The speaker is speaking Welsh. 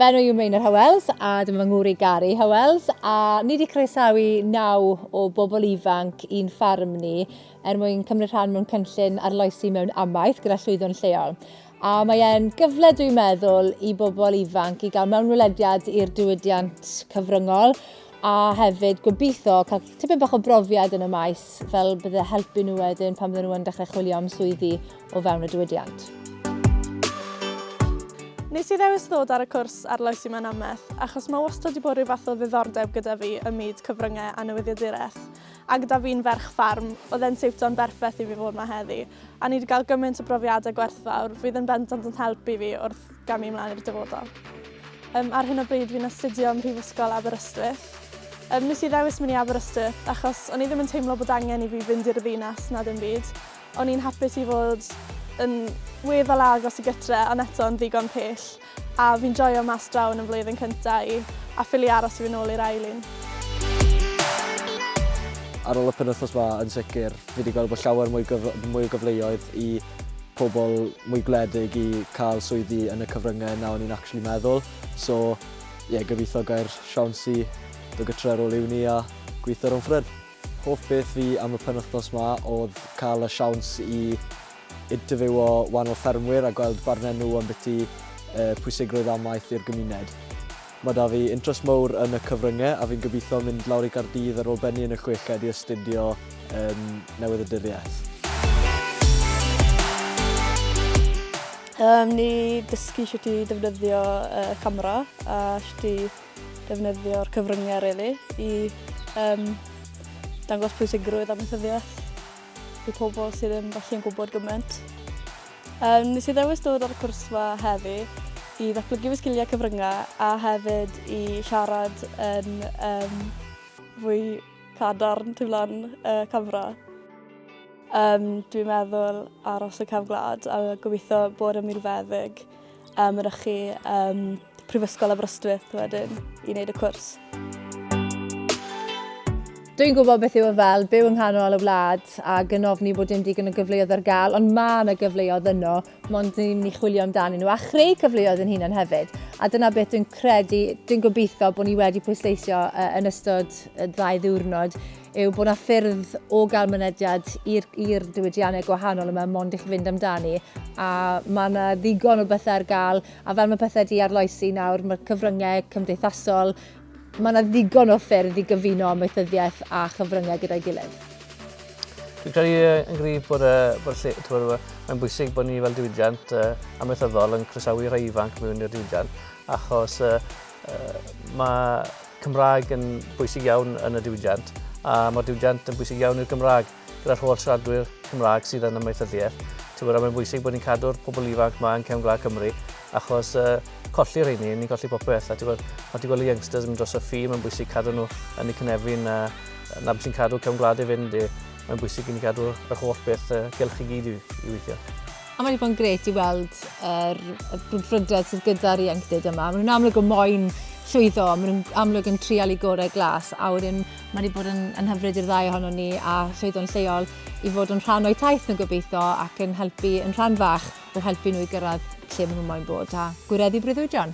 Fy enw yw Meinir Hywels a dyma fy ngwr i Gary Hywels a ni wedi croesawu naw o bobl ifanc i'n ffarm ni er mwyn cymryd rhan mewn cynllun arloesi mewn amaeth gyda llwyddo'n lleol. A mae e'n gyfle, dwi'n meddwl, i bobl ifanc i gael mewnwelediad i'r diwydiant cyfryngol a hefyd gobeithio cael tipyn bach o brofiad yn y maes fel bydde helpu nhw wedyn pan bydden nhw'n dechrau chwilio am swyddi o fewn y diwydiant. Nes i ddewis ddod ar y cwrs arloesi mewn amaeth, achos mae wastad wedi bod rhyw fath o ddiddordeb gyda fi ym myd cyfryngau a newyddiaduraeth. A gyda fi'n ferch ffarm, oedd e'n siwto'n berffaith i fi fod yma heddi, a ni wedi cael gymaint o brofiadau gwerthfawr fydd yn bendant yn helpu fi wrth gamu ymlaen i'r dyfodol. Um, ar hyn o bryd fi'n astudio ym Mhrifysgol Aberystwyth. Um, nes i ddewis mynd i Aberystwyth achos o'n i ddim yn teimlo bod angen i fi fynd i'r ddinas na ddim byd, O'n i'n hapus i fod yn weddol agos i gytre ond eto yn ddigon pell a fi'n joio mas draw yn y flwyddyn cynta i a ffili aros i fynd nôl i'r ail un. Ar ôl y penwythnos ma yn sicr fi wedi gweld bod llawer mwy, gyf mwy o gyfleoedd i pobl mwy gwledig i cael swyddi yn y cyfryngau na o'n i'n actually meddwl. So ie, yeah, gobeithio gair siawns i dod gytre ar ôl uni a gweithio rhwng ffred. Hoff beth fi am y penwythnos 'ma oedd cael y siawns i interfywio wahanol ffermwyr a gweld barnau nhw ambiti pwysigrwydd amaeth i'r gymuned. Mae 'da fi interest mowr yn y cyfryngau a fi'n gobeithio mynd lawr i Gaerdydd ar ôl bennu yn y chweched i astudio yn Newyddaduriaeth. Ni dysgu shwt i ddefnyddio camera a shwt i defnyddio'r cyfryngau rili i um, dangos pwysigrwydd amaethyddiaeth i pobl sydd ddim falle yn gwybod gymaint. Um, nes i ddewis dod ar y cwrs yma heddi i ddatblygu fy sgiliau cyfryngau a hefyd i siarad yn um, fwy cadarn tu flan uh, camera. Um, dwi'n meddwl aros y cefn gwlad a gobeithio bod yn milfeddyg A mynychu um, Prifysgol Aberystwyth wedyn i wneud y cwrs. Dwi'n gwybod beth yw y fel byw yng nghanol y wlad a gynofni bod dim digon o gyfleoedd ar gael, ond mae yna gyfleoedd yno, mond ni'n mynd i chwilio amdanyn nhw a chreu cyfleoedd yn hunan hefyd. A dyna beth dwi'n credu, dwi'n gobeithio bod ni wedi pwysleisio yn ystod y ddau ddiwrnod, yw bod yna ffyrdd o gael mynediad i'r diwydiannau gwahanol yma mond i chi fynd amdani a mae yna ddigon o bethau ar gael a fel mae pethau wedi arloesi nawr mae'r cyfryngau cymdeithasol mae yna ddigon o ffyrdd i gyfuno amaethyddiaeth a chyfryngau gyda'i gilydd. Dwi'n credu yn gryf bod, bod lle, tywed, mae'n bwysig bod ni fel diwydiant uh, amaethyddol yn croesawu rhai ifanc mewn i'r diwydiant achos uh, uh, mae Cymraeg yn bwysig iawn yn y diwydiant a mae'r diwydiant yn bwysig iawn i'r Gymraeg gyda'r holl siaradwyr Cymraeg sydd yn amaethyddiaeth. Tywed, mae'n bwysig bod ni'n cadw'r pobl ifanc mae yn cefn gwlad Cymru achos uh, colli rheini, ni'n colli popeth. A tywed, mae ti'n gweld y youngsters yn dros y ffi, mae'n bwysig cadw nhw yn y cynefin a na beth sy'n cadw cefn gwlad i fynd i. Mae'n bwysig i ni gadw yr holl beth uh, gylch i gyd i, i weithio. A mae wedi bod yn gret i weld yr er, brwdfrydedd sydd gyda'r ieuenctid yma. Maen nhw'n amlwg o moyn llwyddo, maen nhw'n amlwg yn trial i gorau glas, a wedyn mae wedi bod yn, yn hyfryd i'r ddau ohono ni a llwyddo'n lleol i fod yn rhan o'i taith nhw'n gobeithio ac yn helpu yn rhan fach o helpu nhw i gyrraedd lle maen nhw'n moyn bod a gwireddu breuddwydion.